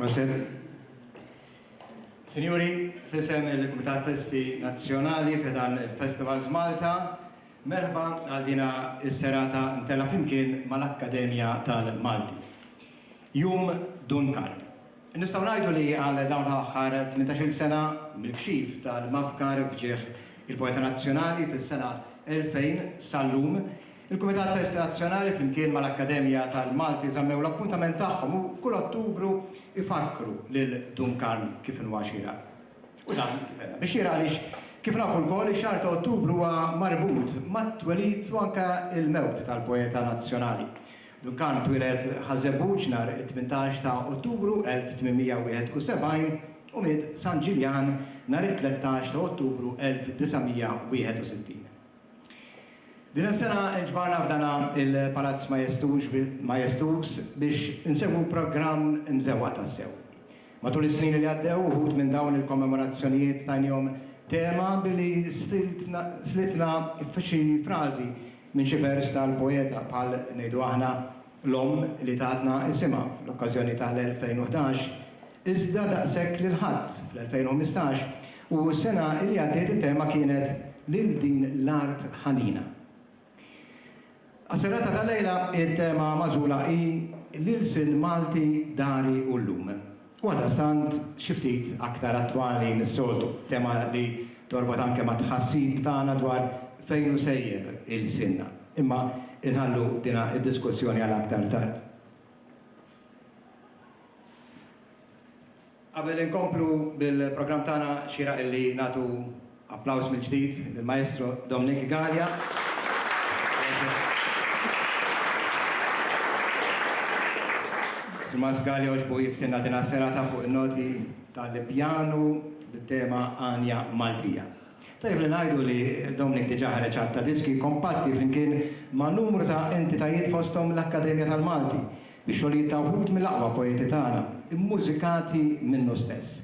Proset. Sinjuri, fisem il-Kumitat Festi Nazzjonali f'dan il-Festivals Malta, merħba għal dina is-serata mtella flimkien mal-Akkademja tal-Malti. Jum Dun Karm. Nistgħu ngħidu li għal dawn l-aħħar tmintax-il sena mill-kxif tal-mafkar f'ġieħ il-poeta nazzjonali fis-sena 2000 sal-lum, il-Kumitat Festi Nazzjonali flimkien mal-Akkademja tal-Malti żammew l-appuntament tagħhom u kull Ottubru jfakkru lil Dun Karm kif inhuwa xieraq. U dan, kif għedna, bi xieraq għaliex, kif nafu lkoll, ix-xahar ta' Ottubru huwa marbut mat-twelid u anke l-mewt tal-poeta nazzjonali. Duncan twieled Ħaż-Żebbuġ nhar it-tmintax ta' Ottubru 1871 u miet San Ġiljan nhar it-tlettax ta' Ottubru 1961. Din is-sena nġbarna f'dana il-Palazz Majestuż majestuż biex insegwu programm imżewwaq tassew. Matul is-snin li għaddew, uħud minn dawn il-kommemorazzjonijiet tajnihom tema billi slitna f'xi frażi minn xi vers tal-poeta, bħal ngħidu aħna, l-omm li tatna isimha fl-okkażjoni tal-2011, iżda daqshekk lil ħadd fl-2015, u s-sena li għaddiet it-tema kienet Lil din l-art ħanina. Għas-serata tal-lejla t-tema magħżula hi L-Ilsien Malti Dari u Llum. U għaldaqstant xi ftit aktar attwali mis-soltu, tema li torbot anke mat-tħassib tagħna dwar fejn hu sejjer ilsienna. Imma inħallu dina d-diskussjoni għal aktar tard. Qabel inkomplu bil-programm tagħna xieraq illi nagħtu applaws mill-ġdid lill-Maestro Dominic Galea. Sur Mass Galea għoġbu jiftinna din għas-serata fuq in-noti tal-pjanu bit-tema Għanja Maltija. Tajjeb li ngħidu li Dominic diġà ħareġ għadd ta' diski kompatti flimkien ma' numru ta' entitajiet fosthom l-Akkademja tal-Malti Ix-xogħlijiet ta' wħud mill-aqwa poeti tagħna, immużikati minnu stess.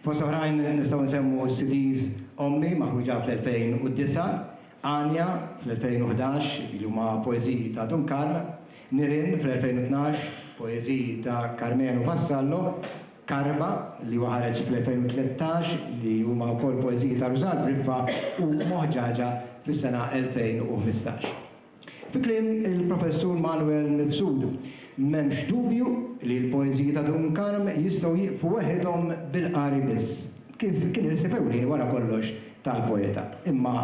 Fost oħrajn nistgħu nsemmu s-CDs Ommi, maħruġa fl-2009, Għanja, fl-2011, li huma poeżiji ta' Dun Karl, Nirien, fl-2012, poeżiji ta' Karmenu Vassallo, Karba, li huwa ħareġ fl-2013, li huma wkoll poeżiji ta' Rużann Briffa, u Moħġaġa, fis-sena 2015. Fi kliem il-Professur Manwel Mifsud, m'hemmx dubju li l-poeżiji ta' Dun Karm jistgħu jieqfu weħidhom bil-qari biss, kif kien il-ħsieb ewlieni wara kollox tal-poeta, imma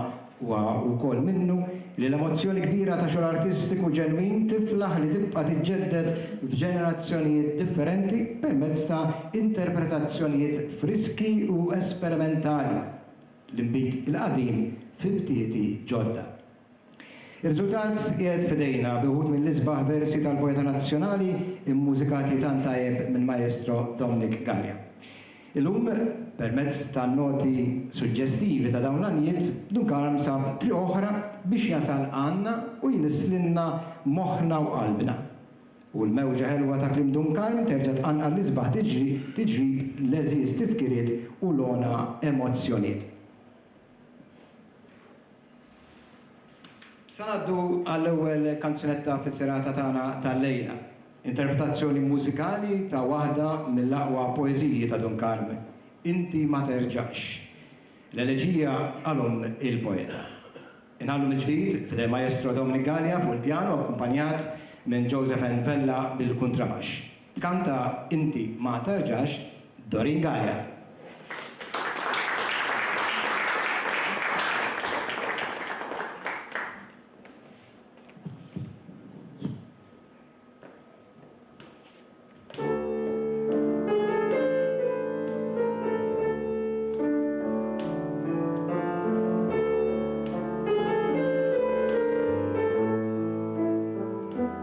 huwa wkoll minnu li l-emozzjoni kbira ta' xogħol artistiku ġenwin tiflaħ li tibqa' tiġġedded f'ġenerazzjonijiet differenti permezz ta' interpretazzjonijiet friski u esperimentali, l-inbid il-qadim fi btieti ġodda. Ir-riżultat qiegħed f'idejna bi wħud mill-isbaħ versi tal-poeta nazzjonali mmużikati tant tajjeb mill-Maestro Dominic Galea. Illum, permezz tan-noti suġġestivi ta' dawn l-għanjiet, Dun Karm sab triq oħra biex jasal għandna u jnisslilna moħħna u qalbna. U l-mewġa ħelwa ta' kliem Dun Karm terġa' tqanqal l-isbaħ tiġri tiġrib l-għeżież tifkiriet u l-għona emozzjoniet. Se ngħaddu għall-ewwel kanzunetta fis-serata tagħna tal-lejla. Interpretazzjoni mużikali ta' waħda mill-aqwa poeżiji ta' Dun Karmen, Inti ma terġax. L-eleġija għal omm il-poeta. Inħallu mill-ġdid f'idejn Maestro Dominic Galea fuq il-pjanu akkumpanjat minn Joseph N. Vella bil-kuntrabax. Kanta Inti ma Tarġax, Doreen Galea.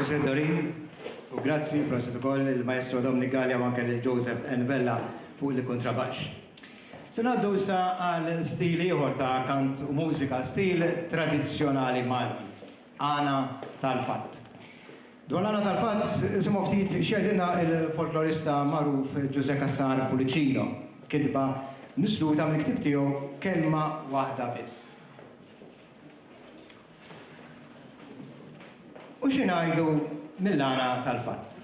President Dorin, u grazzi prosit ukoll il-Maestro Dominic Gallia u anke lil Joseph N. Vella fuq il-kontrabaxx. Se ngħaddu issa għal stil ieħor ta' kant u mużika, stil tradizzjonali Malti. Għana tal-fatt. Dwar l-għana tal-fatt, isimgħu ftit x'jgħidilna l-folklorista magħruf Ġużè Cassar Pullicino, kitba misluta mill-ktieb tiegħu Kelma Waħda Biss. U xi ngħidu mill-għana tal-fatt?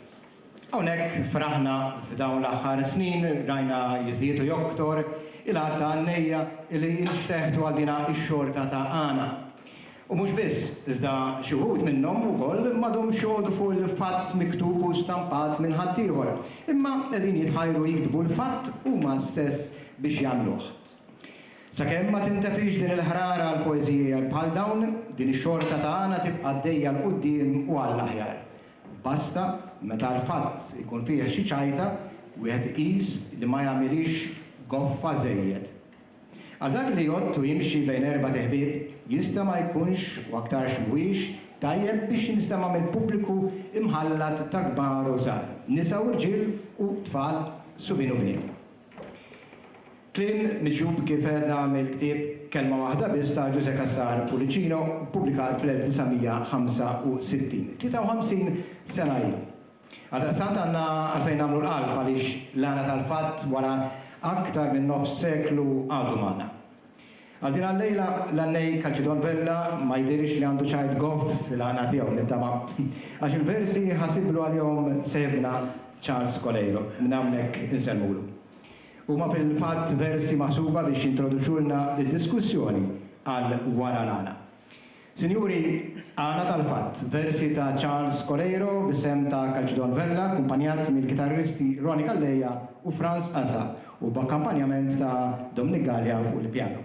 Hawnhekk f'Raħna f'dawn l-aħħar snin rajna jiżdied u joktor il-għadd ta' għannejja li jinxteħtu għal din ix-xorta ta' għana. U mhux biss, iżda xi wħud minnhom ukoll m'għadhomx joqogħdu fuq il-fatt miktub u stampat minn ħaddieħor, imma qegħdin jitħajru jiktbu l-fatt huma stess biex jagħmluh. Sakemm ma tintefix din il-ħrara għal poeżiji bħal dawn, din ix-xorta ta' għana tibqa' għaddejja 'l quddiem u għall-aħjar. Basta, meta l-fatt ikun fih xi ċajta, wieħed iqis li ma jagħmilhiex goffa żejjed. Għal dak li jgħodd u jimxi bejn erbat iħbieb, jista' ma jkunx, u aktarx m'huwiex, tajjeb biex jinstema' minn pubbliku imħallat ta' kbar u żgħar, nisa u rġiel u tfal, subien u bniet. Kliem miġjub kif għedna mill-ktieb Kelma Waħda Biss ta' Ġużè Cassar Pullicino, ppubblikat fl-1965, 53 sena ilu. Għaldaqstant għandna għalfejn nagħmlu l-qalb għaliex l-għana tal-fatt wara aktar minn nofs seklu għadu magħna. Għal din għal-lejla l-għannej Calcedon Vella ma jidhirx li għandu ċajt goff fil-għana tiegħu, nittama', għax il-versi ħasiblu għalihom seħibna Charles Coleiro, minn hawnhekk insellmulu. Huma fil-fatt versi maħsuba biex jintroduċulna d-diskussjoni għal wara l-għana. Sinjuri, għana tal-fatt, versi ta' Charles Coleiro b'isem ta' Calcidon Vella akkumpanjat mill-kitarristi Ronnie Calleja u Frans Asa u b'akkampanjament ta' Dominic Galea fuq il-pjanu.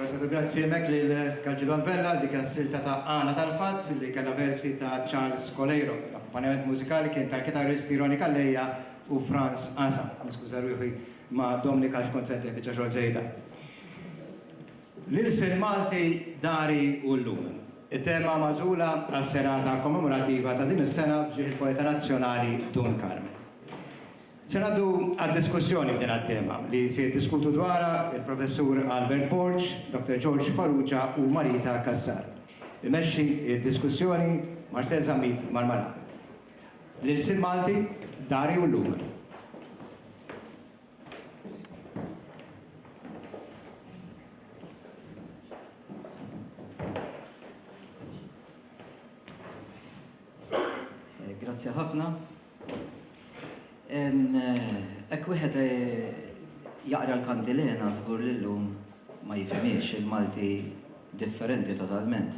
Proset u grazzi hemmhekk lil Calcidon Vella għal dik is-silta ta' Għana tal-Fatt li kellha versi ta' Charles Coleiro. L-akkumpanjament mużikali kien tal-kitarristi Ronnie Calleja u Frans Asa. Niskuża ruħi ma' Dominic għax kont se ntih biċċa xogħol żejda. L-ilsien Malti dari u llum. It-tema magħżula għas-serata kommemorativa ta' din is-sena f'ġieħ il-poeta nazzjonali Dun Karmen. Se ngħaddu għad-diskussjoni f'din għat-tema, li se jiddiskutu dwarha l-Professur Albert Borg, Dr. George Farrugia u Marita Cassar. Imexxi d-diskussjoni Marcel Zammit Marmara. L-ilsien Malti dari u llum. Grazzi ħafna. Hekk wieħed jaqra l-kantilena żgur li llum ma jifhimhiex il-Malti differenti totalment.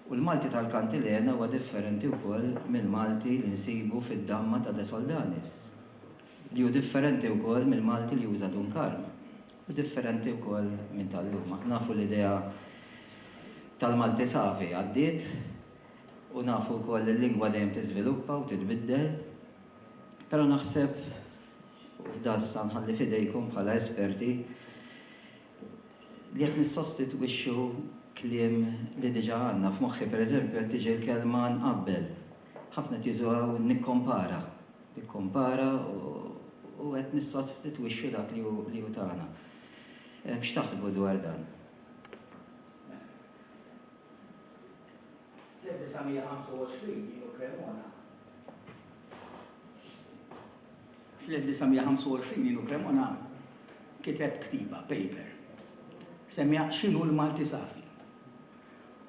U l-Malti tal-kantilena huwa differenti wkoll mill-Malti li nsibu fid-damma ta' De Soldanis, li hu differenti wkoll mill-Malti li uża Dun Karm, u differenti wkoll minn tal-lum. Aħna nafu l-idea tal-Malti savi għaddiet. U nafu wkoll li l-lingwa dejjem tiżviluppa u titbiddel. Però naħseb, u f'dan issa nħalli f'idejkom bħala esperti, li qed nissostitwixxu kliem li diġà għandna. F'moħħi pereżempju qed tiġi l-kelma nqabbel. Ħafna qed jużuha u nikkompara. Nikkompara u qed nissostitwixxu dak li hu li hu tagħna. X'taħsbu dwar dan? Fl-1925 din u Cremona. Fl-1925 din u Cremona kiteb ktiba, paper, semmiha X'inhu l-Malti Safi.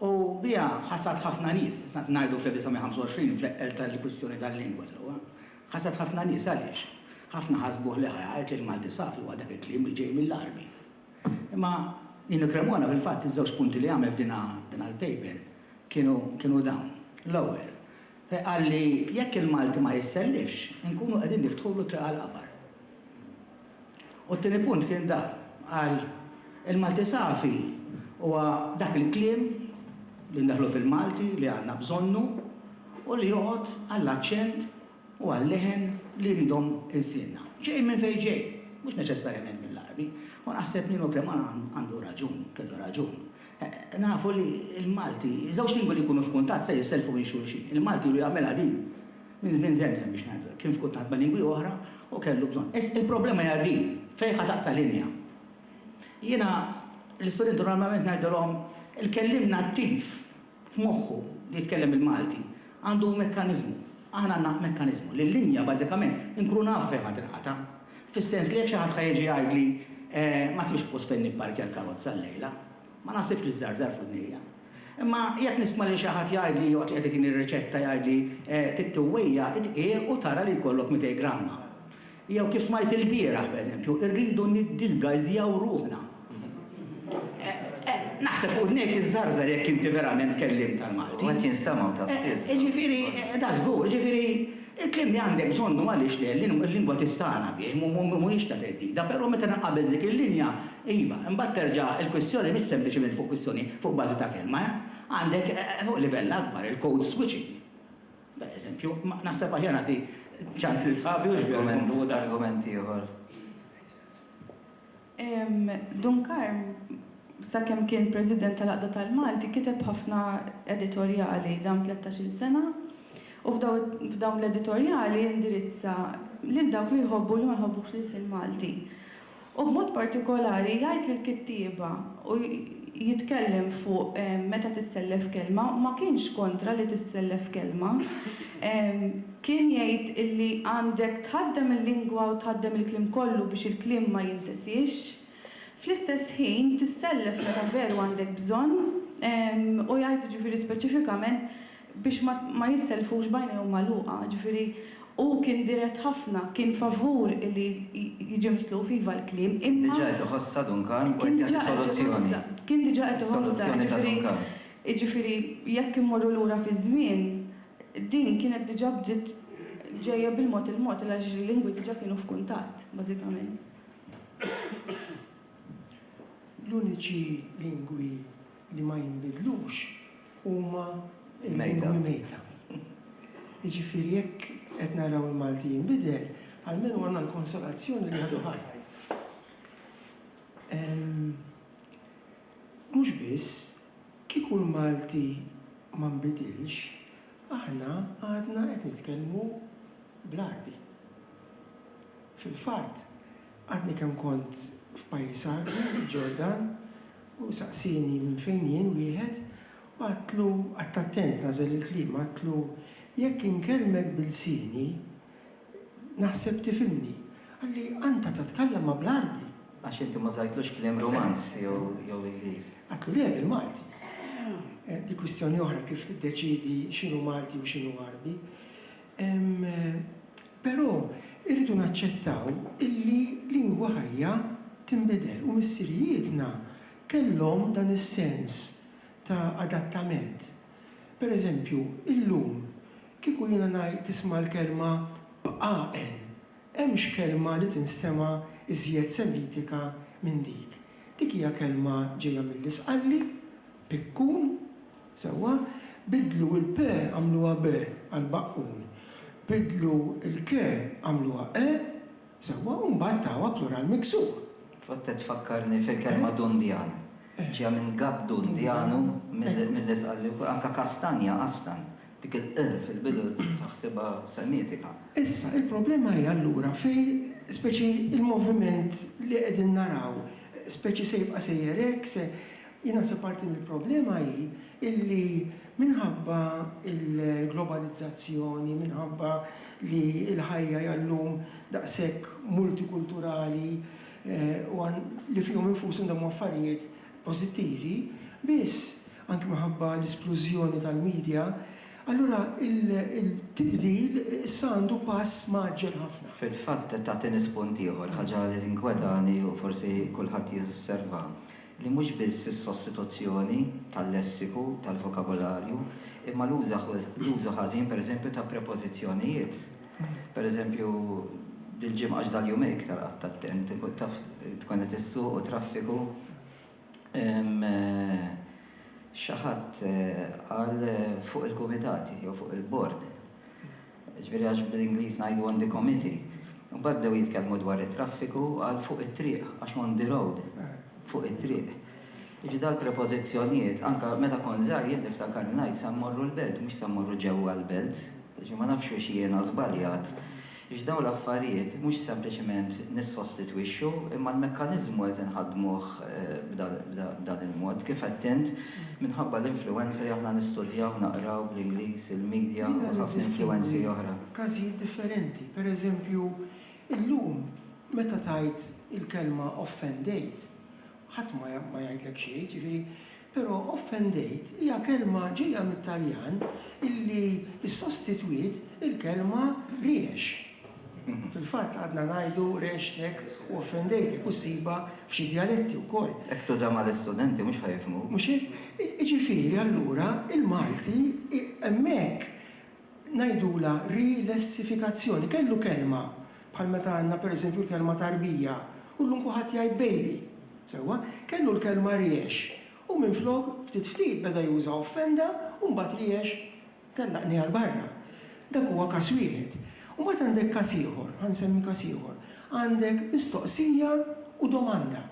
U biha ħassat ħafna nies, sant ngħidu fl-1925 fl-eqqel tal-kwistjoni tal-lingwa sewwa, ħassat ħafna nies għaliex? Ħafna ħasbuh li ħa jgħid li l-Malti Safi huwa dak il-kliem li ġej mill-Għarbi. Imma Nino Cremona fil-fatt iż-żewġ punti li għamel f'dinha dinha l-paper kienu kienu dawn. L-ewwel, qal li jekk il-Malti ma jissellifx, inkunu qegħdin niftħulu t-triq għall-qabar. U t-tieni punt kien da, qal il-Malti safi huwa dak il-kliem li ndaħħlu fil-Malti li għandna bżonnu u li joqgħod għall-aċċent u għal-leħen li jridhom ilsienna. Ġej minn fejn ġej, mhux neċessarjament mill-Għarbi, u naħseb li Nokema għandu raġun, kellu raġun. Nafu li l-Malti, żewġ lingwi li jkunu f'kuntatt se jissellfu minn xulxin. Il-Malti ilu jagħmilha din minn żmien żemżem biex ngħidu hekk, kien f'kuntatt ma' lingwi oħra u kellu bżonn. Issa il-problema hija din, fejn ħa taqta' linja. Jiena l-istudenti normalment ngħidilhom il-kelliem nattiv f'moħħu li jitkellem il-Malti għandu mekkaniżmu, aħna għandna mekkaniżmu, li l-linja bażikament inkunu nafu fejn ħa tinqata'. Fis-sens li jekk xi ħadd ħa jiġi jgħidli ma sibx post fejn nipparkja l-karozza llejla, ma naħsibx li żżarżar f'widnejja. Imma jekk nisma' lil xi ħadd jgħidli waqt li qed itini r-riċetta jgħidli trid tiwwejja' it-tqigħ u tara li jkollok mitej gramma. Jew kif smajt ilbieraħ, pereżempju, irridu niddisgajżjaw ruħna. Naħseb u dnejk iżżarżar jekk inti verament kelliem tal-Malti. U qed jinstema' ta' spiss. Jiġifieri, da żgur, jiġifieri, il-kliem li għandek bżonn hu għaliex le, il-lingwa tistagħna bih, mhuwiex ta' theddida, però meta nqabeż dik il-linja, iva, imbagħad terġa' il-kwistjoni mhix sempliċement fuq kwistjoni fuq bażi ta' kelma, eh. Għandek, fuq livell akbar, il-code switching. Pereżempju, ma, naħseb aħjar nagħti ċans lil sħabi u xbieha jkun Buda. Argument ieħor. Dun Karm, sakemm kien President tal-Għaqda tal-Malti, kiteb ħafna editorjali dawn tlettax-il sena u f'dawn l-editorjali indirizza lil dawk li jħobbu u li ma jħobbux l-ilsien Malti. U b'mod partikolari jgħid li l-kittieba u jitkellem fuq meta tissellef kelma, ma kienx kontra li tissellef kelma, kien jgħid illi għandek tħaddem il-lingwa u tħaddem il-kliem kollu biex il-kliem ma jintesiex, fl-istess ħin tissellef meta veru għandek bżonn u jgħid jiġifieri speċifikament biex ma jissellfux b'għajnejhom magħluqa, ġifieri hu kien dirett ħafna, kien favur li jiġi misluf iva l-kliem imma. Kien diġà qed iħossha Duncan u qed jagħti soluzzjoni. Kien diġà qed iħossha. Is-soluzzjoni ta' Duncan. Jiġifieri jekk immorru lura fiż-żmien, din kienet diġà bdiet ġejja bil-mod il-mod għaliex il-lingwi diġà kienu f'kuntatt, bażikament. L-uniċi lingwi li ma jinbidlux huma l-lingwi mejta. Jiġifieri jekk qed naraw il-Malti jinbidel, almenu għandna l-konsolazzjoni li għadu ħaj. Mhux biss, kieku l-Malti ma nbidilx, aħna għadna qed nitkellmu bl-Għarbi. Fil-fatt, Għadni kemm kont f'pajjiż Għarbi, il-Ġordan, u saqsieni minn fejn jien wieħed, u għedtlu, qgħadt attent nagħżel il-kliem, għedtlu, Jekk inkellmek b'ilsieni, naħseb tifhimni. Qalli, Anta tatkallama bl-Għarbi? Għax inti ma żajtlux kliem Rumanz jew Ingliż. Għedtlu, Le, bil-Malti. Dik kwistjoni oħra kif tiddeċiedi x'inhu Malti u x'inhu Għarbi. Però irridu naċċettaw illi lingwa ħajja tinbidel u missirijietna kellhom dan is-sens ta' adattament. Per eżempju, illum kieku jiena ngħid tisma' l-kelma bqaqen, hemmx kelma li tinstema' iżjed Semitika minn dik. Dik hija kelma ġejja mill-Isqalli. Pikkun, sewwa, biddlu il-pe għamluha be għal baqqun. Biddlu l-ke għamluha qe, sewwa, u mbagħad tawha plural miksur. Tfottet tfakkarni fil-kelma dundjan. Ġejja minn gatt dun djanu, milli sqal li wkoll anke kastanja, qastan. Dik il-'q' fil-bidu taħsibha semitika. Issa, il-problema hi allura fej speċi l-moviment li qegħdin naraw, speċi se jibqa' sejjer hekk, se. Jien naħseb parti mill-problema hi illi minħabba l-globalizzazzjoni, minħabba li l-ħajja hija llum daqshekk multikulturali u li fihom infushom dawn huma affarijiet pożittivi, biss, anki minħabba l-isplużjoni tal-media, allura il-tibdil issa għandu pass mgħaġġel ħafna. Fil-fatt qed tagħtini spunt ieħor, ħaġa li tinkwetani u forsi kulħadd josserva. li mhux biss is-sostituzzjoni tal-lessiku, tal-vokabolarju, imma l-użu ħażin, pereżempju, ta' prepożizzjonijiet. Pereżempju, dil-ġimgħa, għax dal-jumejn iktar qgħadt attent, taf, tkun qed issuq u traffiku, xi ħadd qal fuq il-kumitati jew fuq il-bord. Jiġifieri għax bl-Ingliż ngħidu on the committee. Imbagħad bdew jitkellmu dwar it-traffiku u qal fuq it-triq għax on the road, fuq it-triq. Jiġifieri dal-prepożizzjonijiet, anke meta kont żgħir jien niftakar ngħid se mmorru l-belt mhux se mmorru ġewwa l-belt. Jiġifieri ma nafx fiex jiena żbaljat. Jiġifieri dawn l-affarijiet mhux sempliċement nissostitwixxu imma l-mekkaniżmu qed inħaddmuh b'dan il-mod. Kif għedt int, Minħabba l-influwenza li aħna nistudjaw, naqraw, bl-Ingliż, il-media u ħafna influwenzi oħra. Każijiet differenti, per eżempju, illum meta tgħid il-kelma offendejt, ħadd ma ma jgħidlek xejn, jiġifieri, però offendejt hija kelma ġejja mit-Taljan illi ssostitwiet il-kelma riex. Fil-fatt għadna ngħidu rexxtek u offendejtek u ssibha f'xi djaletti wkoll. Jekk tuża mal-istudenti mhux ħa jifhmuk. Mhux hekk? Jiġifieri allura il-Malti hemmhekk ngħidulha rilessifikazzjoni. Kellu kelma bħal meta għandna pereżempju l-kelma tarbija u llum kulħadd jgħid baby. Sewwa? Kellu l-kelma riex u minflok ftit ftit beda juża offenda u mbagħad riex Tellaqni għal barra. Dak huwa każ wieħed. U mbagħad għandek każ ieħor, ħa nsemmi każ ieħor. Għandek mistoqsija u domanda.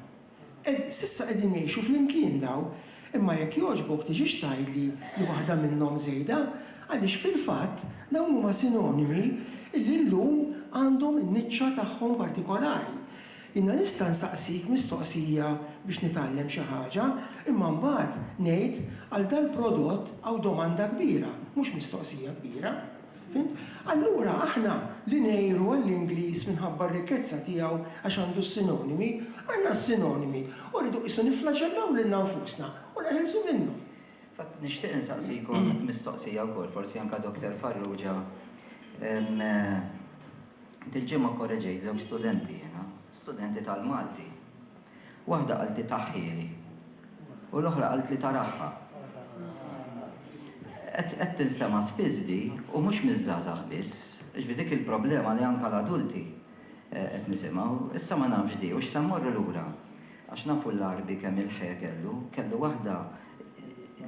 Qed, s'issa qegħdin jgħixu flimkien dawn, imma jekk jogħġbok tiġix tgħidli li waħda minnhom żejda, għaliex fil-fatt dawn huma sinonimi illi llum għandhom in-niċċa tagħhom partikolari. Jiena nista' nsaqsik mistoqsija biex nitgħallem xi ħaġa, imma mbagħad ngħid, għal dal-prodott hawn domanda kbira, mhux mistoqsija kbira. Fhimt? Allura aħna li ngħiru għall-Ingliż minħabba r-rikkezza tiegħu għax għandu s-sinonimi, għandna s-sinonimi u rridu qisu nifflaġellaw lilna nfusna u neħilsu minnhom. Infatti nixtieq insaqsikom mistoqsija wkoll, forsi anke Doctor Farrugia. Dil-ġimgħa kkoreġejt żewġ studenti jiena, studenti tal-Malti. Waħda qaltli taħħieli u l-oħra qaltli taraħħa. Qed qed tinstema' spiss di u mhux miż-żgħażagħ biss. Jiġifieri dik il-problema li anke l-adulti qed nisimgħu. Issa ma nafx di hux se mmorru lura għax nafu l-Għarbi kemm il-ħe kellu. Kellu waħda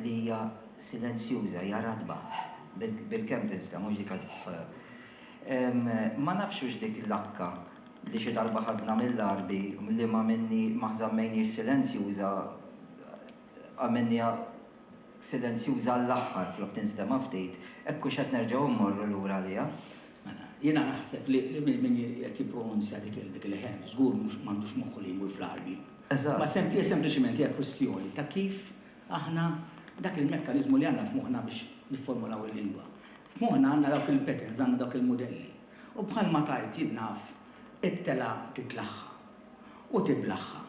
li hija silenzjuża, hija ratba, ħ, bil-kemm tinstema' mhux dik il-ħ. Ma nafx hux dik il-lakka li xi darba ħadna mill-arbi li ma minni ma żammejnhiex silenzjuża għamilniha silenzjuża għall-aħħar flok tinstema' ftit, hekk hux qed nerġgħu mmorru lura għaliha? Mela, jiena naħseb li min qed jippronunzja dik il-leħen żgur mhux m'għandux moħħu li jmur fl-arbi. Eżatt. Ma hija sempliċiment hija kwistjoni ta' kif aħna dak il-mekkaniżmu li għandna f'moħħna biex nifformulaw il-lingwa. F'moħħna għandna dawk il-patterns, għandna dawk il-mudelli. U bħalma tgħid, jien naf, it-telgħa titlaħħa u tiblaħħa.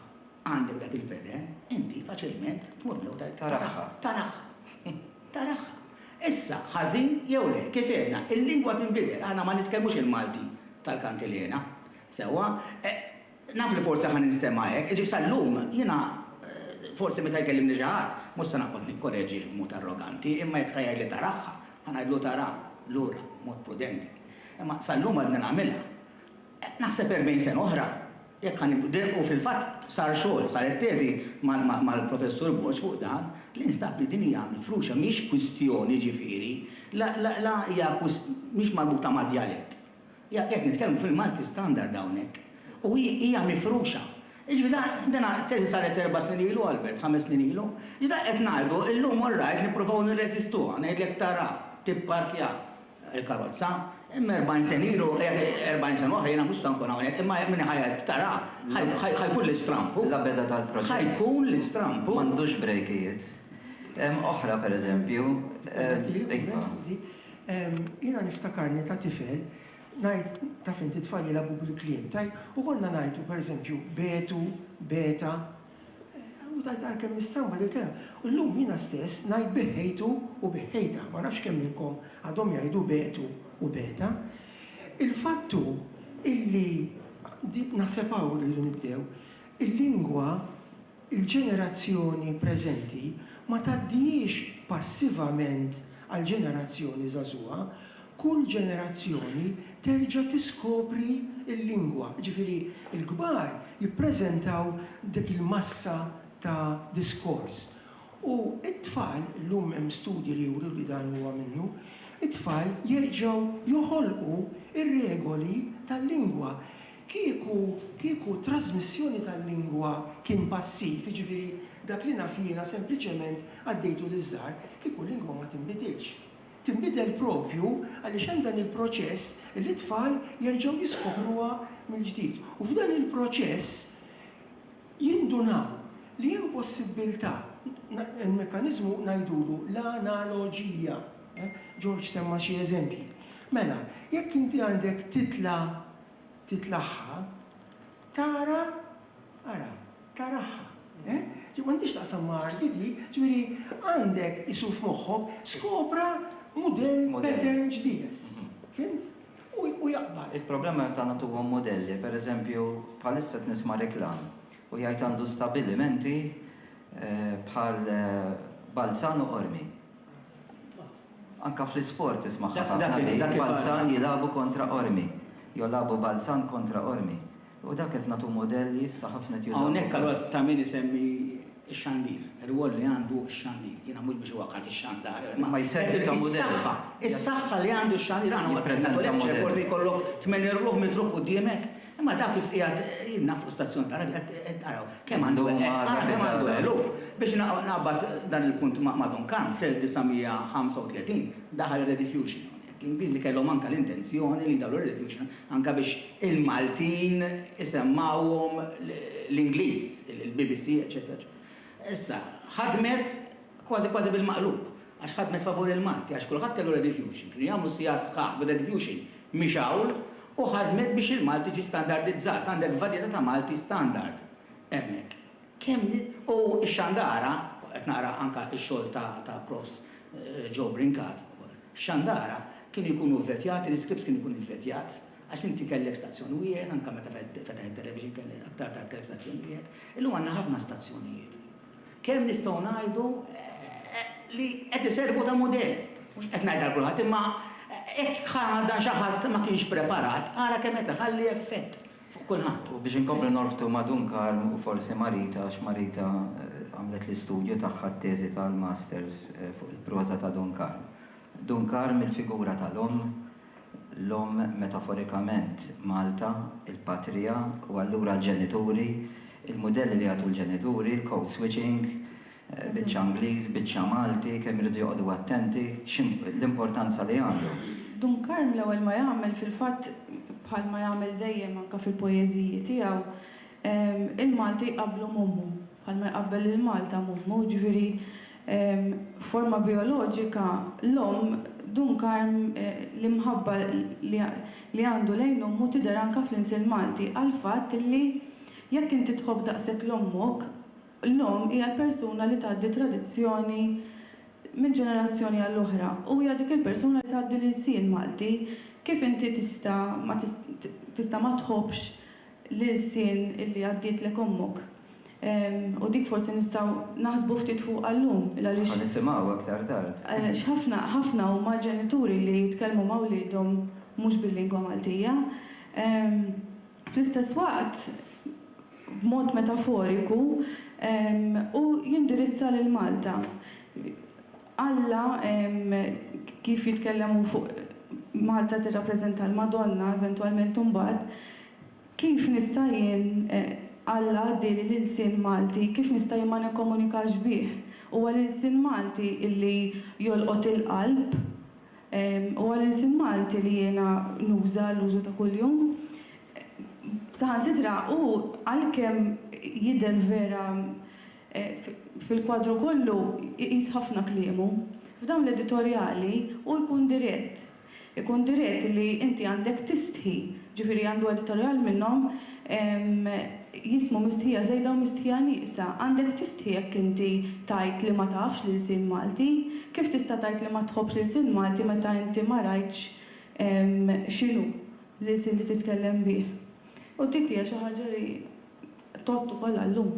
Għandek dak il-pattern, inti faċilment tmur miegħu tgħid, Taraħħa. Taraħħa. Taraħħa. Issa, ħażin jew le, kif għedna, il-lingwa tinbidel. Aħna ma nitkellmux il-Malti tal-Kantilena. Sewwa? Naf li forsi ħa ninstema' hekk, jiġifieri sal-lum jiena forsi meta jkellimni xi ħadd mhux se noqgħod nikkoreġih b'mod arroganti, imma jekk ta' jgħidli tarahha, ħa ngħidlu tara lura b'mod prudenti. Imma sal-lum għadni nagħmilha. Naħseb erbgħin sena oħra, jekk ħa nibdel, u fil-fatt sar xogħol, saret teżi mal-Professur Borg fuq dan, li nstab li din hija mifruxa, mhix kwistjoni jiġifieri, la hija mhix marbuta mad-djalett. Hija qed nitkellmu fil-Malti standard hawnhekk u hi hija mifruxa. Jiġifieri da dina t-teżi saret erba' snin ilu, Albert, ħames snin ilu. Jiġifieri dak qed ngħidu illum all right nippruvaw nirreżistuha, ngħidlek tara, tipparkja l-karozza, imma erbgħin sena ilu, erbgħin sena oħra jiena mhux se nkun hawnhekk imma min ħa jgħid tara, ħa jkun l-istrampu. L-għabeda tal-proċess. Ħa jkun l-istrampu. M'għandux brejkijiet. Hemm oħra pereżempju, iva. Jiena niftakarni ta' tifel ngħid, taf int it-tfal jilagħbu bil-kliem, tajt, u konna ngħidu pereżempju betu, beta, u tajt ara kemm hi stramba din il-kelma. U llum jiena stess ngħid beħħejtu u beħħejta, ma nafx kemm minnkom għadhom jgħidu betu u beta. Il-fatt hu illi, naħseb hawn irridu nibdew, il-lingwa Il-ġenerazzjoni preżenti ma tgħaddihiex passivament għall-ġenerazzjoni żagħżugħa, kull ġenerazzjoni terġa' tiskopri l-lingwa, jiġifieri l-kbar jippreżentaw dik il-massa ta' diskors u t-tfal, illum hemm studji li juru li dan huwa minnu, it-tfal jerġgħu joħolqu r-regoli tal-lingwa. Kieku, kieku t-trażmissjoni tal-lingwa kien passiv, jiġifieri dak li naf jiena sempliċement għaddejtu liż-żgħar, kieku l-lingwa ma tinbidilx. Tinbidel proprju għaliex hemm dan il-proċess li t-tfal jerġgħu jiskopruha mill-ġdid. U f'dan il-proċess jindunaw li hemm possibbiltà, il-mekkaniżmu ngħidulu l-analoġija, George semma xi eżempji. Mela, jekk inti għandek titla titlaħħa, tara, ara, taraħħa. Ġifieri m'għandhiex taqsam ma' arti di, ġifieri għandek isu f'moħħok skopra mudell, pattern ġdid. Fhimt? U jaqbad. Il-problema meta nagħtuhom mudelli, pereżempju bħalissa qed nisma' reklam u jgħid għandu stabilimenti bħal Balzan u Qormi. Anka fl-isport tismagħha ħafna di, Balzan jilagħbu kontra Qormi. Jew lagħbu Balzan kontra Qormi. U dak qed nagħtu mudell li issa ħafna qed jużawh. Hawnhekk allura ta' min isemmi x-xandir, ir-rwol li għandu x-xandir. Jiena mhux biex iwaqqgħat ix-xandar, imma is-saħħa, is-saħħa li għandu x-xandir. Aħna ma tħallniex, forsi jkollok tmien irwuħ mitruħ quddiemek. Imma dak kif qiegħed jien naf fuq stazzjon ta' radju qed araw kemm għandu ara kemm għandu eluf. Biex naqbad dan il-punt ma' Duncan, fl-1935 daħal ir-redifusion hawnhekk. L-Ingliżi kellhom anke l-intenzjoni li jdaħħlu r-redifusion anke biex il-Maltin isemmgħuhom l-Ingliż, il-BBC eċċetera eċċetera. Issa, ħadmet kważi kważi bil-maqlub. Għax ħadmet favur il-Malti, għax kulħadd kellu redifuxin, kienu jagħmlu sigħat sħaħ bir-redifuxin mixgħul u ħadmet biex il-Malti ġie standardizzat, għandek varjetà ta' Malti standard hemmhekk. Kemm u x-Xandara, qed naqra anke x-xogħol ta' Profs. Joe Brincat ukoll, x-Xandara kienu jkunu vvetjati, l-iskript kien ikun ivvetjat, għax inti kellek stazzjon wieħed, anke meta fetaħ it-television kellek aktar tard kellek stazzjon wieħed, illum għandna ħafna stazzjonijiet. Kemm nistgħu ngħidu li qed iservu ta' mudell? Mhux qed ngħid għal kulħadd, imma jekk dan xi ħadd ma kienx preparat, ara kemm qed iħalli effett fuq kulħadd. U biex inkomplu norbtu ma' Dun Karm u forsi ma' Rita, għax ma' Rita għamlet l-istudju tagħha t-teżi tal-masters fuq il-proża ta' Dun Karm. Dun Karm, il-figura tal-omm, l-omm, metaforikament, Malta, il-patrija, u allura l-ġenituri, il-mudelli li jagħtu l-ġenituri, l-code switching, biċċa Ingliż, biċċa Malti, kemm iridu joqogħdu attenti, l-importanza li għandu. Dun Karm l-ewwel ma jagħmel fil-fatt, bħalma jagħmel dejjem anke fil-poeżiji tiegħu, il-Malti jqabblu m'ommu. Bħal ma jqabbel lil Malta m'ommu, jiġifieri f'forma bijoloġika l-omm, Dun Karm, l-imħabba li għandu lejn ommu tidher anke fl-insiel Malti għall-fatt illi jekk inti tħobb daqshekk 'l ommok, l-omm hija l-persuna li tgħaddi tradizzjoni minn ġenerazzjoni għal oħra u hija dik il-persuna li tgħaddi l-insiel Malti. Kif inti tista' ma tista' ma tħobbx l-ilsien li għaddietlek ommok. U dik forsi nistgħu naħsbu ftit fuqha llum, il għaliex. Ħa nisimgħu aktar tard. Għaliex ħafna, ħafna huma l-ġenituri li jitkellmu ma' wliedhom mhux bil-lingwa Maltija. Fl-istess waqt, b'mod metaforiku, hu jindirizza lil Malta. Alla kif jitkellem hu fuq Malta tirrappreżenta l-Madonna eventwalment imbagħad, kif nista' jien, Alla għaddieli l-ilsien Malti, kif nista' jien ma nikkomunikax bih? Huwa l-ilsien Malti li jolqot il-qalb, huwa l-ilsien Malti li jiena nuża l-użu ta' kuljum. Saħansitra hu għalkemm jidher vera Fil-kwadru kollu jqis ħafna kliemu. F'dawn l-editorjali hu jkun dirett. Ikun dirett li inti għandek tistħi. Ġifieri għandu editorjal minnhom jismu Mistħija Żejda u Mistħija Nieqsa. Għandek tistħi jekk inti tgħid li ma tafx l-ilsien Malti. Kif tista' tgħid li ma tħobbx l-ilsien Malti meta inti ma rajtx x'inhu l-ilsien li titkellem bih? U dik hija xi ħaġa li. Tgħodd ukoll għal-lum.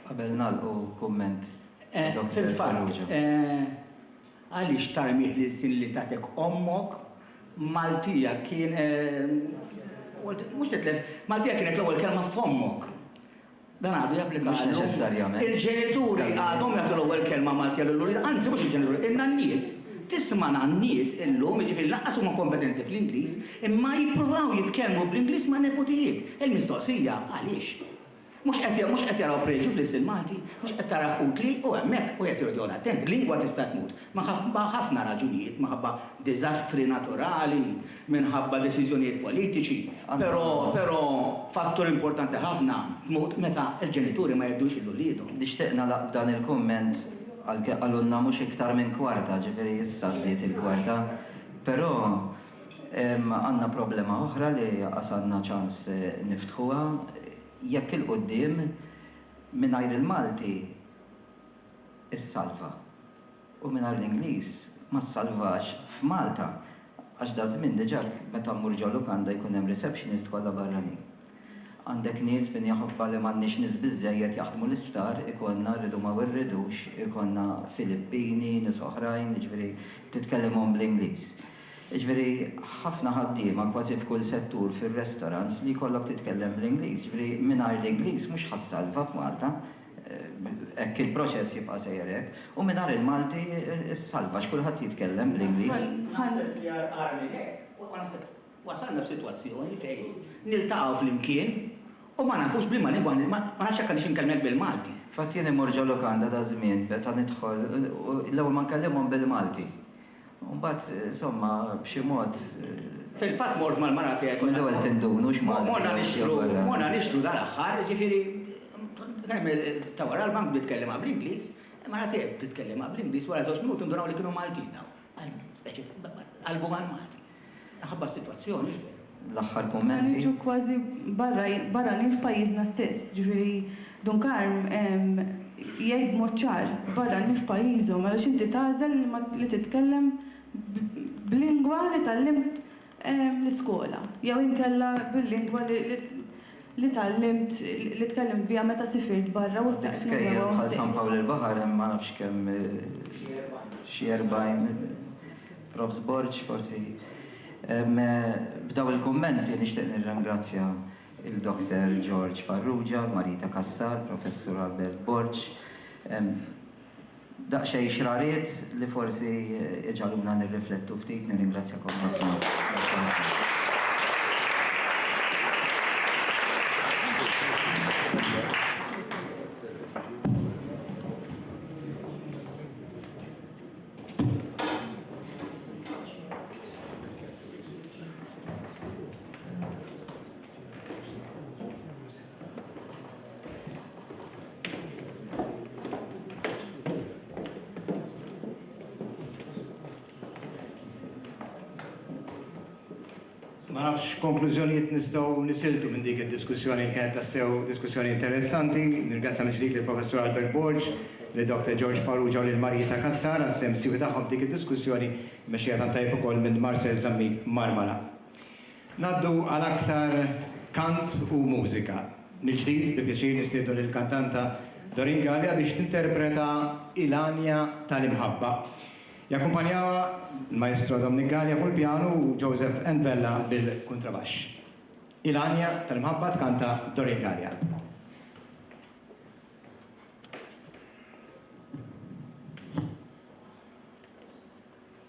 Qabel nagħlqu kumment ta' Dottor Farrugia. Fil-fatt, għaliex tarmih l-ilsien li tatek ommok? Maltija kien, mhux titlef, Maltija kienet l-ewwel kelma f'fommok. Dan għadu japplika għal-lum. Mhux neċessarjament. Il-ġenituri għadhom jagħtu l-ewwel kelma Maltija lill-uliedhom, anzi mhux il-ġenituri, in-nanniet. Tisma' nanniet illum, jiġifieri lanqas huma kompetenti fl-Ingliż, Imma jippruvaw jitkellmu bl-Ingliż ma' neputijiet. Il-mistoqsija, għaliex? Mhux qed mhux qed jaraw preġju fl-istil Malti? Mhux qed tarah utli? U hemmhekk wieħed irid joqgħod attent. Lingwa tista' tmut minħabba ħafna raġunijiet, minħabba diżastri naturali, minħabba deċiżjonijiet politiċi, però però fattur importanti ħafna, tmut meta l-ġenituri ma jgħiddux lil uliedhom. Nixtieq nagħlaq b'dan il-kumment, għalkemm qalulna mhux iktar minn kwarta, ġifieri issa għaddiet il-kwarta, però, Għandna problema oħra li anqas għandna ċans niftħuha. Jekk 'il quddiem, mingħajr il-Malti issalva u mingħajr l-Ingliż ma ssalvax f'Malta għax daż-żmien diġà meta mmur ġo lukanda jkun hemm receptionist kollha barranin. Għandek nies min jaħobbha li m'għandniex nies biżżejjed jaħdmu l-isptar, ikollna, rridu ma rridux, ikollna Filippini, nies oħrajn, jiġifieri titkellimhom bl-Ingliż. Jiġifieri ħafna ħaddiema kważi f'kull settur fir-restaurants li jkollok titkellem bl-Ingliż. Jiġifieri mingħajr l-Ingliż mhux ħa ssalva f'Malta. Hekk il-proċess jibqa' sejjer hekk. U mingħajr il-Malti ssalva għax kulħadd jitkellem bl-Ingliż. Naħseb li agħar minn hekk huwa naħseb wasalna f'sitwazzjoni fejn niltaqgħu flimkien u ma nafux b'liema lingwa ma nafx jekk għandix inkellmek bil-Malti. Fatt jien immur ġo lukanda daż-żmien meta nidħol u l-ewwel ma nkellimhom bil-Malti. U mbagħad, insomma, b'xi mod. Fil-fatt mort mal-mara tiegħi. Minn l-ewwel tindun hux Malti. Morna nixtru, morna nixtru dal-aħħar, jiġifieri kemm ta' wara l-bank bdiet tkellimha bl-Ingliż, il-mara tiegħi bdiet tkellimha bl-Ingliż, wara żewġt minuti ndunaw li kienu Maltin dawn. Speċi qalbu għall-Malti. Minħabba s-sitwazzjoni, x'bek? L-aħħar kummenti. Qed niġu kważi barranin f'pajjiżna stess. Jiġifieri Dun Karm jgħid b'mod ċar, barranin f'pajjiżhom għaliex inti tagħżel li titkellem b'lingwa li tgħallimt l-iskola jew inkella bil-lingwa li li tgħallimt, li tkellimt biha meta sifirt barra u staqs lil żewgħa u stess. Dak iskejjel bħal San Pawl il-Baħar hemm ma nafx kemm, xi erbgħin, Prof. Sborg forsi. B'daw il-kummenti nixtieq nirringrazzja lil Dokter George Farrugia, l-Marita Cassar, Professur Albert Borg, Daqsxejn xrariet li forsi jġagħluna nirriflettu ftit. Nirringrazzjakom ħafna. Grazzi ħafna. Ma nafx konklużjonijiet nistgħu nisiltu minn dik id-diskussjoni li kienet tassew diskussjoni interessanti. Nirgrazzja minn ġdid lill-Professur Albert Borg, li Dr. George Farrugia u lil Marietta Cassar għas-sehem siewi tagħhom f'dik id-diskussjoni mexxija tant tajjeb ukoll minn Marcel Zammit Marmara. Ngħaddu għal aktar kant u mużika. Mill-ġdid, bi pjaċir nistiednu lill-kantanta Doreen Galea biex tinterpreta Il-Għanja tal-Imħabba. Jakkumpanjawha l-Maestro Dominic Galea fuq il-pjanu u Joseph N. Vella bil-kuntrabaxx. Il-Għanja tal-Imħabba tkanta Doreen Galea.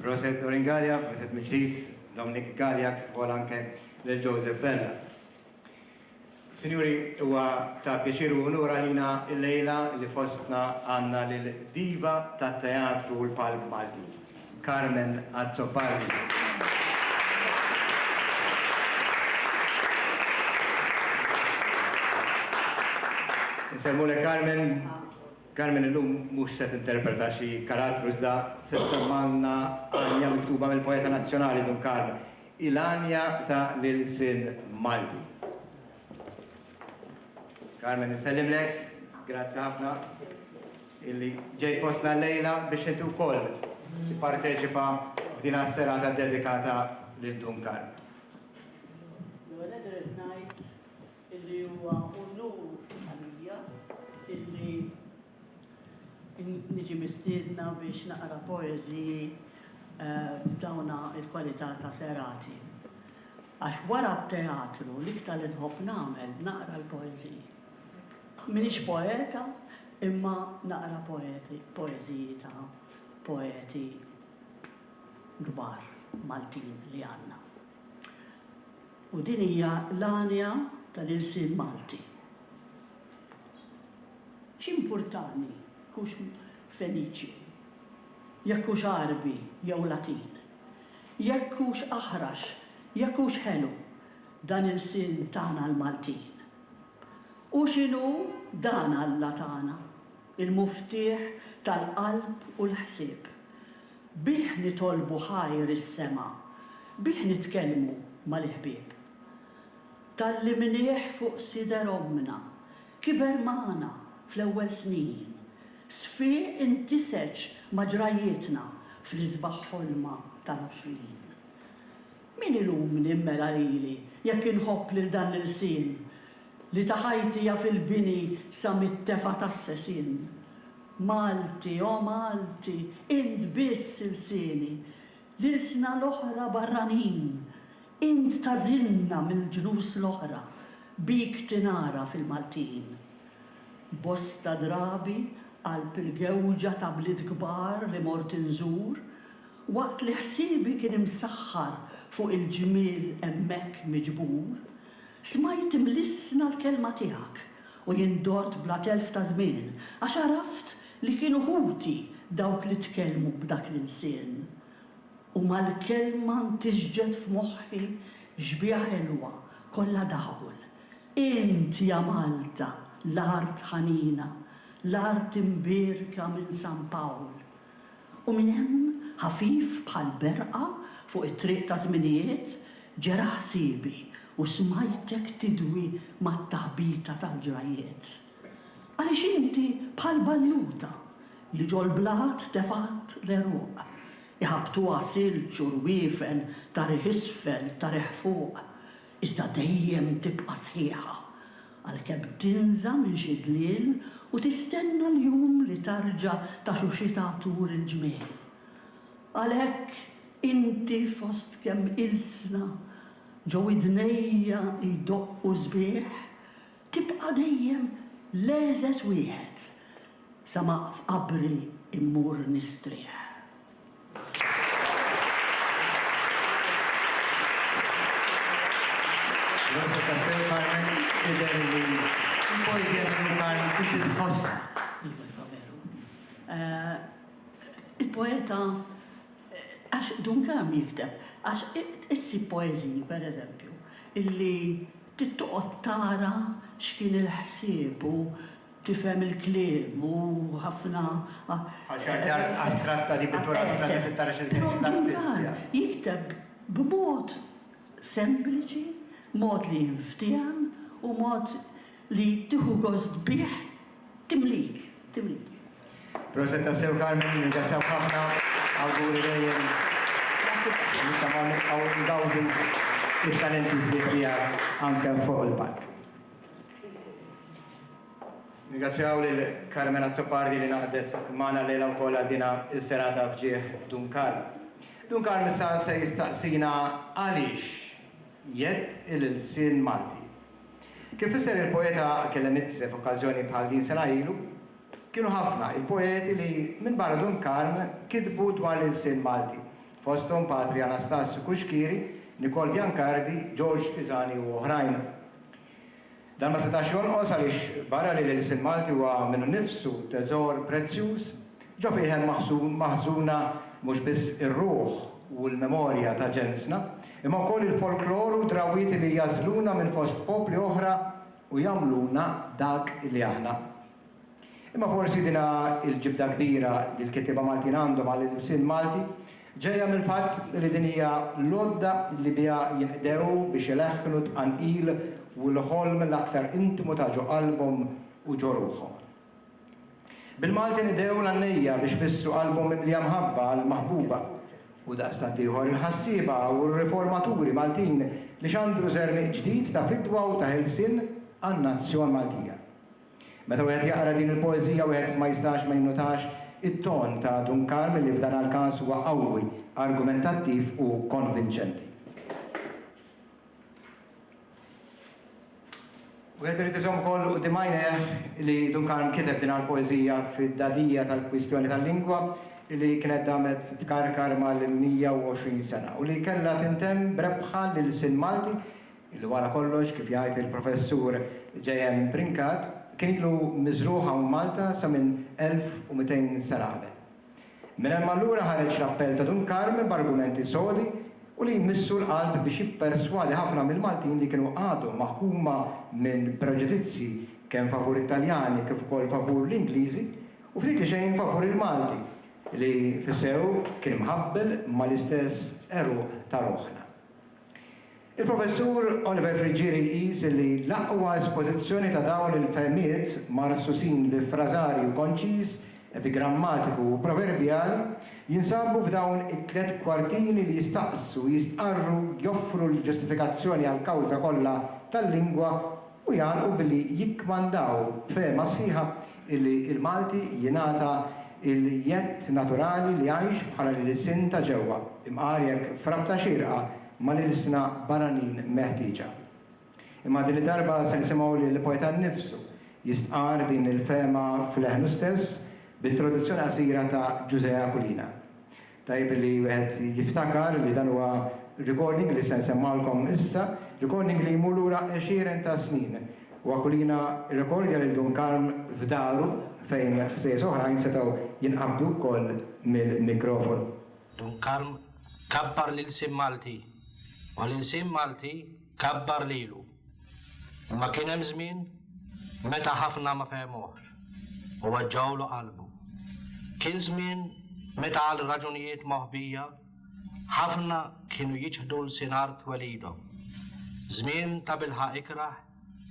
Proset Oringalia, proset mill-ġdid, Dominic Galia, kif ukoll anke lil Joseph Vella. Sinjuri, huwa ta' pjaċir u unur għalina llejla li fostna għandna lill-diva tat-teatru u l-palk Malti, Carmen Azzopardi. Insellmulek Carmen. Carmen illum mhux se tinterpreta xi karattru iżda se ssemgħalna għanja miktuba mill-poeta nazzjonali Dun Karl. Il-għanja ta' l-ilsien Malti. Carmen insellimlek, grazzi ħafna illi ġejt fostna llejla biex inti wkoll tipparteċipa f'dina s-serata ddedikata lil Dun Karm. L-ewwel nett irrid ngħid illi huwa unur għalija illi, Niġi mistiedna biex naqra poeżiji f'dawn il-kwalità ta' serati. Għax wara t-teatru l-iktar li nħobb nagħmel naqra l-poeżiji. M'iniex poeta imma naqra poeżiji ta' poeti kbar Maltin li għandna. U din hija l-għanja tal-ilsien Malti. X'impurtani hux Feniċju, jekk hux Għarbi jew Latin, jekk hux aħrax, jekk hux ħelu, dan ilsien tagħna l-Maltin. U x'inhu dan Alla tagħna, il-muftieħ tal-qalb u l-ħsieb. Bih nitolbu ħajr is-sema, bih nitkellmu mal-iħbieb. Tgħallimnieh fuq sider ommna, Kiber magħna fl-ewwel snin. Sfieq intiseġ ma' ġrajjietna fl-isbaħ ħolma tal-għoxrin. Min ilumni mmela lili jekk inħobb lil dan l-ilsien li ta' ħajti jaf il-bini sa mit-tefa' tas-sesien. Malti, o Malti, int biss ilsieni, l-ilsna l-oħra barranin, Int tagħżilna mill-ġnus l-oħra, bik tingħaraf il-Maltin. Bosta drabi qalb il-gewġa ta' bliet kbar li mort inżur, waqt li ħsiebi kien imsaħħar fuq il-ġmiel hemmhekk miġbur, smajt imlissna l-kelma tiegħek u jien dort bla telf ta' żmien għax għaraft li kienu ħuti dawk li tkellmu b'dak l-ilsien. U mal-kelma ntiżġet f'moħħi xbieha ħelwa, kollha daħul. Int ja Malta, l-art ħanina, l-art imbierka minn San Pawl. U minn hemm, ħafif bħal berqa fuq it-triq ta' żminijiet, ġera ħsiebi u smajtek tidwi mat-taħbita tal-ġrajjiet. Għaliex inti bħal balluta li ġol-blat tefgħat l-għeruq, iħabbtuha silġ u rwiefen ta' riħ isfel, ta' riħ fuq, iżda dejjem tibqa' sħiħa, għalkemm tinża minn xi dliel u tistenna l-jum li tarġa' taxuxitha tur il-ġmiel. Għalhekk inti fost kemm ilsna ġo widnejja jdoqqu sbieħ, Tibqa' dejjem l-għeżeż wieħed sa ma f'qabri mmur nistrieħ. Proset tassew Carmen, jidher li l-poeżija ta' Lou Karn inti tħossha. Iva, iva veru. Il-poeta, għax Dun Karm jikteb, għax issib poeżiji, pereżempju, illi, Trid toqgħod tara x'kien il-ħsieb u tifhem il-kliem u ħafna. Bħal xi arti art astratta, di pittura astratta trid tara x'qed jgħid l-artist, yeah. Però Duncan jikteb b'mod sempliċi, mod li jinftiehem u mod li tieħu gost bih Timlik, timlik. Proset tassew Carmen, nirringrazzjawk ħafna, awguri dejjem. Grazzi tassew. Nittamaw nibqgħu ngawdu it-talenti sbieħ tiegħek anke fuq il-palk. Nirringrazzjaw lil Carmen Azzopardi li ngħaqdet magħna llejla wkoll għal din is-serata f'ġieħ Dun Karm. Dun Karm issa se jistaqsina għaliex jedd il-ilsien Malti. Kif fisser il-poeta Kelemitze f'okkażjoni bħal din sena ilu, Kienu ħafna il-poeti li, minbarra Dun Karm, kitbu dwar l-ilsien Malti, fosthom Patri Anastasju Cuschieri, Nikol Biancardi, George Pisani u oħrajn. Dan ma setax jonqos għaliex barra li l-ilsien Malti huwa minnu nnifsu teżor prezzjuż, Ġo fih hemm maħżuna mhux biss ir-ruħ u l-memorja ta' ġensna, imma wkoll il-folklor u d-drawwiet li jagħżluna minn fost popli oħra u jagħmluna dak li aħna. Imma forsi din hi l-ġibda kbira li l-kittieba Maltin għandhom għal ilsien Malti, ġejja mill-fatt li din hija l-għodda li biha jinqdew biex ileħħnu t-tqanqil u l-ħolm l-aktar intimu ta' ġo qalbhom u ġo ruħhom. Bil-Malti nidgħu l-għannejja biex f'issu qalbhom mimlija mħabba għall-maħbuba u daqstant ieħor il-ħassieba u r-riformaturi Maltin li xandru żerniq ġdid ta' fidwa u ta' ħelsien għan-nazzjon Maltija. Meta wieħed jaqra din il-poeżija wieħed ma jistax ma jinnutax it-ton ta' Dun Karm li f'dan għall-każ huwa qawwi, argumentattiv u konvinċenti. Wieħed irid iżomm ukoll quddiem għajnejh li Duncan kiteb din l-poeżija fid-dadija tal-kwistjoni tal-lingwa li kienet damet tkarkar mal-120 sena u li kellha tintemm b'rebħa l-ilsien Malti li wara kollox, kif jgħid il-Professur JM. Brincat, kien ilu miżrugħ hawn Malta sa minn 1200 sena qabel. Minn hemm allura ħareġ l-appell ta' Dun Karm b'argumenti sodi u li jmissu l-qalb biex jipperswadi ħafna mill-Maltin li kienu għadhom maħkuma minn preġudizzji kemm favur it-Taljani kif ukoll favur l-Ingliżi u ftit li xejn favur il-Malti li fis-sew kien mħabbel mal-istess għeruq ta' ruħna. Il-Professur Oliver Friggieri jqis li l-aqwa espożizzjoni ta' dawn il-fehmiet marsusin bi frażarju konċiż, epigrammatiku u proverbjali jinsabu f'dawn it-tliet kwartini li jistaqsu, jistqarru, joffru l-ġustifikazzjoni għall-kawża kollha tal-lingwa u jagħlqu billi jikkmandaw b'fehma sħiħa illi l-Malti jingħata l-jedd naturali li jgħix bħala l-ilsien ta' ġewwa, imqar jekk f'rabta xierqa, ma' l-ilsna barranin meħtieġa. Imma din id-darba se nisimgħu lil poeta nnifsu jistqarr din il-fehma f'leħnu stess b'introduzzjoni qasira ta' Ġużè Aquilina. Tajjeb li wieħed jiftakar li dan huwa recording li se nsemmgħulkom issa, recording li jmur lura għexieren ta' snin u Aquilina rrekordja lil Dun Karm f'daru fejn ħsejjes oħrajn setgħu jinqabdu wkoll mill-mikrofonu. Dun Karm kabbar l-ilsien Malti u l-ilsien Malti kabbar lilu. Imma kien hemm żmien meta ħafna ma fehmuhx u weġġgħulu qalbu. Kien żmien meta għal raġunijiet moħbija ħafna kienu jiċħdu lsien art twelidhom. Żmien ta' bilħaq ikrah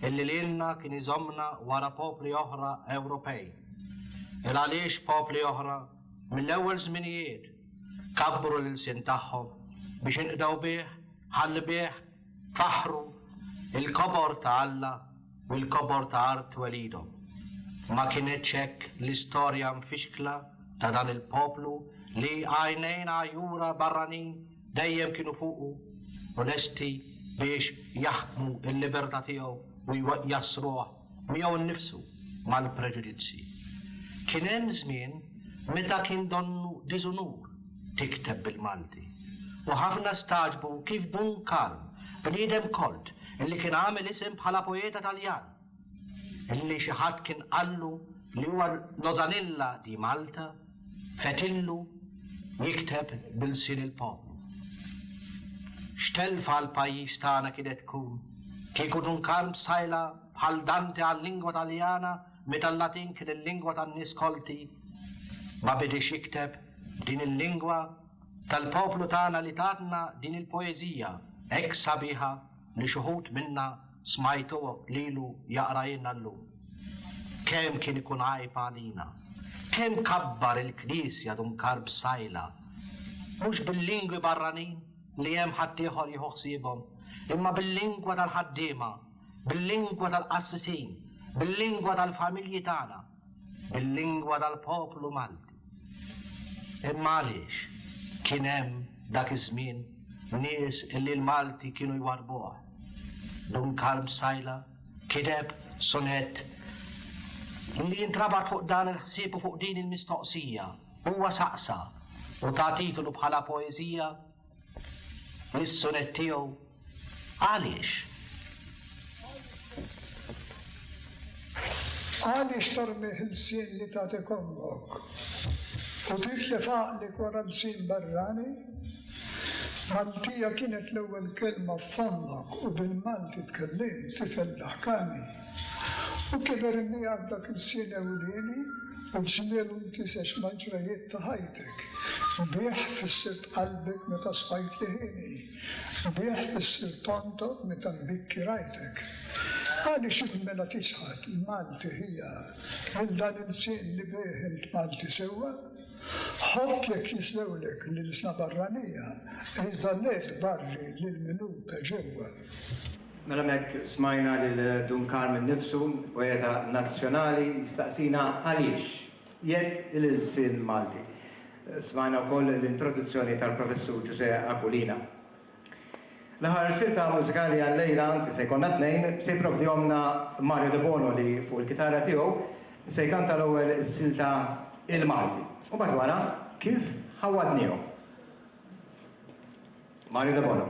illi lilna kien iżommna wara popli oħra Ewropej. Il-għaliex popli oħra? Mill-ewwel żminijiet kabbru l-ilsien tagħhom biex inqdew bih, ħalli bih faħħru l-kobor ta' Alla u l-kobor ta' art twelidhom. Ma kinitx hekk l-istorja mfixkla ta' dan il-poplu li għajnejn għajura barranin? Dejjem kienu fuqu u lesti biex jaħkmu l-libertà tiegħu u jassruh miegħu nnifsu mal-preġudizzji. Kien hemm żmien meta kien donnu diżunur tikteb bil-Malti u ħafna stagħġbu kif Dun Karm, bniedem kolt li kien għamel isem bħala poeta Taljan, illi xi ħadd kien qallu li huwa l-Osanilla di Malta fetillu jikteb bil-lsien il-poplu. X'telfa għall-pajjiż tagħna kienet tkun kieku Dunkarm b'sajla bħal Dante għal-lingwa Taljana meta l-Latin kien il-lingwa tan-nies kolti ma bidiex jikteb b'din il-lingwa tal-poplu tagħna li tatna din il-poeżija hekk sabiħa li xi wħud minna Smajtu lilu jaqrajlna llum. Kemm kien ikun għajb għalina. Kemm kabbar il-Knisja Dun Karb Sajla. Mhux bil-lingwi barranin li hemm ħaddieħor jieħu ħsiebhom, imma bil-lingwa tal-ħaddiema, bil-lingwa tal-qassisin, bil-lingwa tal-familji tagħna. bil-lingwa tal-poplu Malti. Imma għaliex kien hemm dak iż-żmien nies illi l-Malti kienu jwarrbuha? Dun Karm Sajla kiteb sonett illi jintrabat fuq dan il-ħsieb u fuq din il-mistoqsija. Huwa saqsa u ta titolu bħala poeżija, mis-suret tiegħu għaliex? Għaliex tormi ħilsien li tagħtik ommok u titlef għaqlik wara l-sin barrani? Maltija kienet l-ewwel kelma f'fommok u bil-Malti tkellimt tifel daħkani. U kiber in miegħek dak il-sien ewlieni u l-ġmiel u nkisex mal-ġrajjiet ta' ħajtek. Bih fissirt qalbek meta sfajt liħieni. Bih fissirt tontoq meta nbikki rajtek. Għaliex int mela tiċħad, Malti ħija, lil dan il-sien li bih int Malti sewwa? Ħobb jekk jiswewlek l-ilsna barranija, iżda le tbarri lil min hu ta' ġewwa. Mela hemmhekk smajna lil Dun Karm innifsu, poeta nazzjonali, jistaqsina għaliex jedd il-ilsien Malti. Smajna wkoll l-introduzzjoni tal-Professur Ġużè Aquilina. L-aħħar silta mużikali għal-lejla, anzi se jkollna tnejn, se jipprovdihomlna Mario Debono li fuq il-kitarra tiegħu se jkanta l-ewwel is-silta Il-Malti. U mbagħad wara kif ħawwadniehom. Mario Debono.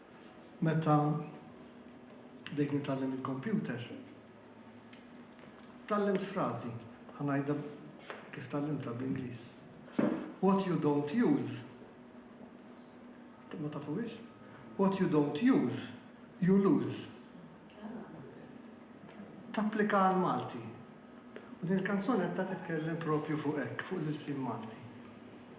Meta bdejt nitgħallem il-kompjuter, tgħallimt frażi, ħa ngħidha kif tgħallimtha bl-Ingliż, What you don't use, ma tafuhiex? What you don't use, you lose. Tapplika għall-Malti. U din il-kanzunetta titkellem proprju fuq hekk, fuq l-ilsien Malti.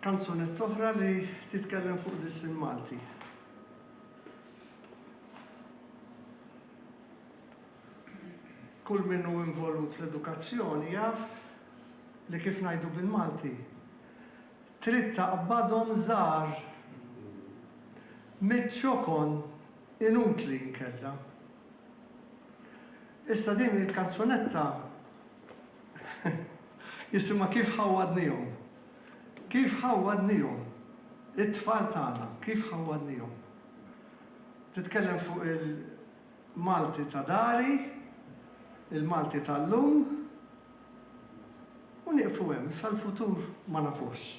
Kanzunetta oħra li titkellem fuq l-ilsien Malti. Kull min hu involut fl-edukazzjoni jaf li kif ngħidu bil-Malti, trid taqbadhom żgħar miċ-ċokon inutli inkella. Issa din il-kanzunetta jisimha Kif Ħawwadnihom. Kif ħawwadnihom it-tfal tagħna, kif ħawwadnihom. Titkellem fuq il-Malti ta' dari, il-Malti tal-lum, u nieqfu hemm, issa l-futur ma nafuhx.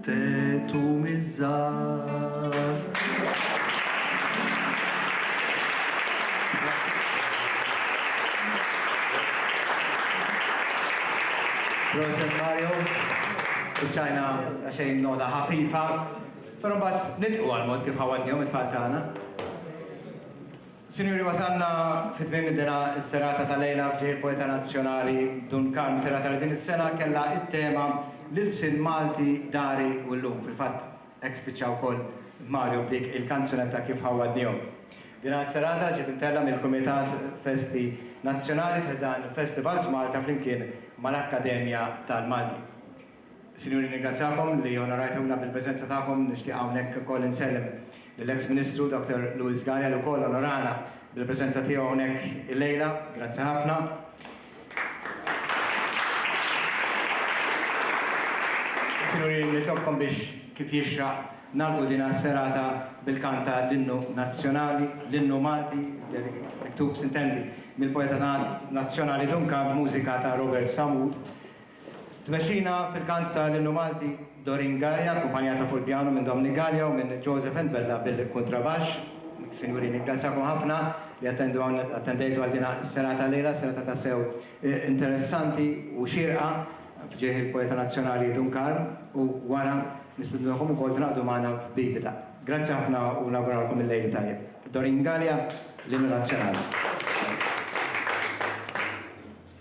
Tetu miż-żgħar. Proset Mario, spiċċajna daqsxejn nota ħafifa, però mbagħad nidqu għall-mod kif ħawadnihom it-tfal tagħna. Sinjuri, wasalna fi tmiem id-dela s-serata ta' lejla f'ġieħ il-poeta nazzjonali Dun Karm, serata li din is-sena kellha t-tema L-ilsien Malti dari u llum, fil-fatt hekk spiċċa wkoll Mario b'dik il-kanzunetta Kif ħawwadnihom. Dina s-serata ġiet imtellgħa mill-Kumitat Festi Nazzjonali fi ħdan Festivals Malta flimkien mal-Akkademja tal-Malti. Sinjuri, nirringrazzjakom li onorajtuna bil-preżenza tagħkom. Nixtieq hawnhekk ukoll insellem lill-eks Ministru Dr. Louis Sgarja li wkoll onorana bil-preżenza tiegħu hawnhekk illejla. Grazzi ħafna. Sinjuri, nitlobkom biex kif jixraq nagħlqu din is-serata bil-kant ta' l-Innu Nazzjonali, l-Innu Malti, miktub, s'intendi, mill-poeta nazzjonali Dun Kab, b'mużika ta' Robert Sammut. Tmexxina fil-kant ta' l-Innu Malti Doreen Galea, akkumpanjata fuq il-pjanu minn Dominic Galea u minn Joseph Entbella bil-kuntrabaxx. Sinjuri, nirringrazzjakom ħafna li attendu hawn, attendejtu għal din is-serata llejla, serata tassew interessanti u xierqa f'ġieħ il-poeta nazzjonali Dun Karm u wara nistidnukom ukoll tingħaqdu magħna f'bibita. Grazzi ħafna u nawguralkom il-lejl it-tajjeb. Doreen Galea, l-Innu Nazzjonali.